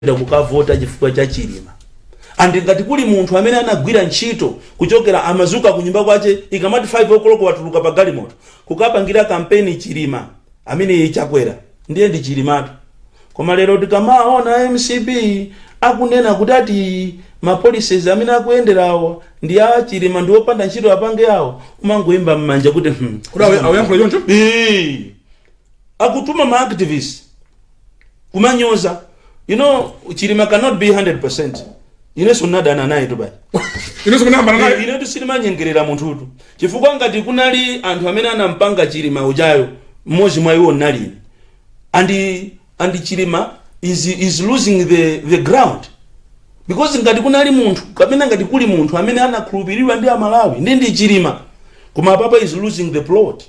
kupita kukavota chifukwa cha chilima andi ngati kuli munthu amene anagwira ntchito kuchokera amazuka kunyumba kwache ikamati 5 o'clock watuluka pa galimoto kukapangira kampeni chilima amene chakwera ndi chilimatu koma lero tikamaona a mcp akunena kuti ati mapolicies amene akuyenderawo ndi a chilima ndi opanda ntchito apange awo kumangoyimba mmanja kuti hmm, kuti a- ayankhula choncho Ee. akutuma ma activist kumanyoza you know chilima cannot be 100% inenso ndinadana naye two bale ine simunayambana naye ine sitimanyengerera munthutu chifukwa ngati kunali anthu amene anampanga chilima ujayo mmodzi mwa iwo ndinali ine andi and chilima is, is losing the, the ground because ngati kunali munthu kapena ngati kuli munthu amene anakhulupiriridwa ndi amalawi ndi ndi chilima koma apapa is losing the plot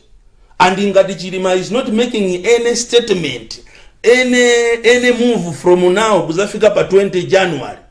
and ngati chilima is not making any statement any, any move from now kuzafika pa 20 january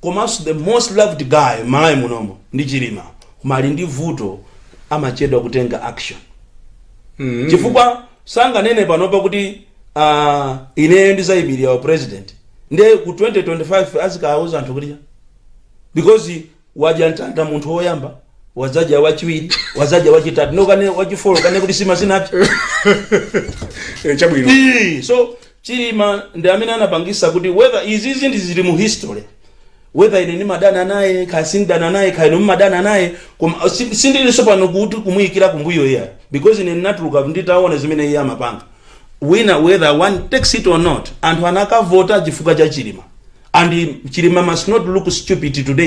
komanso the most loved guy m'malawi munomo ndi chilima koma ali ndi vuto amachedwa kutenga action chifukwa sanganene panopa kuti uh, ineyo ndizayimirira u president nde ku 2025 azikawuza anthu kuti because wadya mtanda munthu woyamba wadzadya wachiwiri wadzadya wachitatu mokana wachifolo kaye kuti nsima sinapse Eh, chabwino Ii, so Chilima ndi amene anapangisa kuti whether izizi zili mu history whether ine ndimadana naye kaya sindidana naye kaya inu mumadana naye koma sindilinso pano kuti kumuyikira kumbuyo iyayi because ine ndinatuluka nditaona zimene iye amapanga wina whether one takes it or not anthu anakavota chifukwa cha Chilima and Chilima must not look stupid today